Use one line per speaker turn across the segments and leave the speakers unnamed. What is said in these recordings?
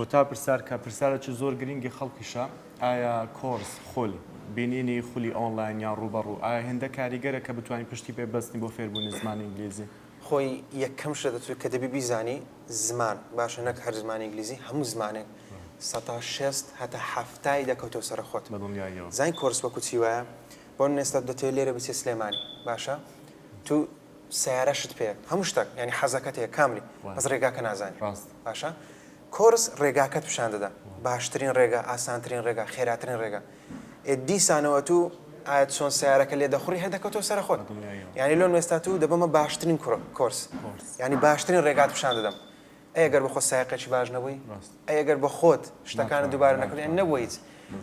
کۆتا پرسار کە پرسارێکی زۆر گرینگی خەڵکیشە، ئایا کۆرس، خول، بینینی خولی ئۆنلاین یان ڕووبەڕوو، ئایا هێندە کاریگەرە کە بتوانین پشتی پێ ببەستین بۆ فێربوونی زمانی ئینگلیزی؟ خۆی یەکەم
شتە دەتوێ کە دەبی بیزانی زمان باشە نەک هەر زمانی ئینگلیزی هەموو زمانێک سەتا شێست هەتا حەفتای دەکەوتەوە سەرە خۆت بەدڵنیاییەوە. زانین کۆرس
وەکو چی
وایە بۆ نمونە ئێستا دەتەوێ لێرە بچێ سلێمانی باشە تو سەیارەشت پێیە هەموو شتەک یانی حەزەکەت هەیە کاملی بەس ڕێگاکە نازانی باشە کۆرس ڕێگاکەت پیشان دەدا باشترین ڕێگا ئاسانترین ڕێگا خێراترین ڕێگا ئێ دیسانەوە تو ئاەت چۆن سیارەکە لێ دەخوری هەر دەکەوتەوە سەر خۆت یانی لۆن وێستا تو دەبمە باشترین کوڕ کۆرس ینی باشترین ڕێگات پیشان دەدەم ئەی گەر بەخۆت سایەقێکی باش نەبووی؟ ئەی گەر بەخۆت شتەکانت دووبارە نەکردی یانی نەبووە هیچ.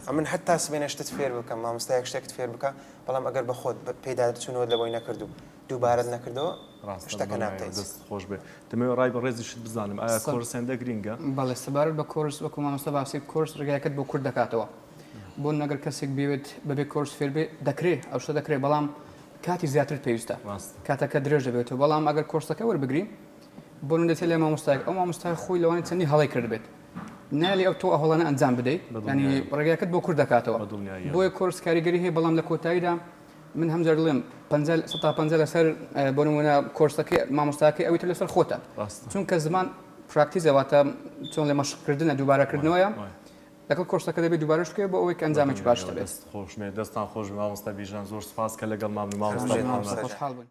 ئەمن حەتتا سبەینێ شتت فێر بکەم، مامۆستایەک شتێکت فێر بکا، بەڵام ئەگەر بەخۆت پێیدا چوونەوەت لەبۆی نەکرد و دووبارەت نەکردەوە، شتەکە نابکەیت. دەستت خۆش بێ.
دەمەوێ ڕای بەڕێزیشت بزانم، ئایا کۆرس هێندە گرینگە؟ بەڵێ، سەبارەت بە
کۆرس وەکو مامۆستا باسی کۆرس ڕێگایەکت بۆ کورت دەکاتەوە. بۆ نمونە گەر کەسێک بیەوێت بەبێ کۆرس فێر بێ، دەکرێ، ئەو شتە دەکرێ، بەڵام کاتی زیاترت پێویستە. کاتەکە درێژ دەبێتەوە، بەڵام ئەگەر کۆرسەکە وەربگری، بۆ نەدەیتە لای مامۆستایەک ئەو مامۆستای خۆی لەوانی چەندی هەڵەی کردبێت نالی ئەو تۆ ئەهڵەنە ئەنجام بدەیت ینی ڕێگاکەت بۆ کورد دەکاتەوە بۆیە کۆرس کاریگەری هەیە بەڵام لە کۆتاییدا من هەمجار دڵێم ستا پ لەسەر بۆ نمونە کۆرسەکەی مامۆستاکەی ئەوی تر لەسەر خۆتە چونکە زمان پراکتیزەواتە چۆن لە مەشقکردنە دووبارەکردنەوەیە لەگەڵ کۆرسەکە دەبێت دووبارەش بکەێت بۆ ئەوەی ئەنجامێکی باش دەبێت
خۆشمێ دەستان
خۆش مامۆستا
بیژان زۆر
سپاس
کە لەگەڵ مامنی
مامۆستا
خۆشحاڵ بن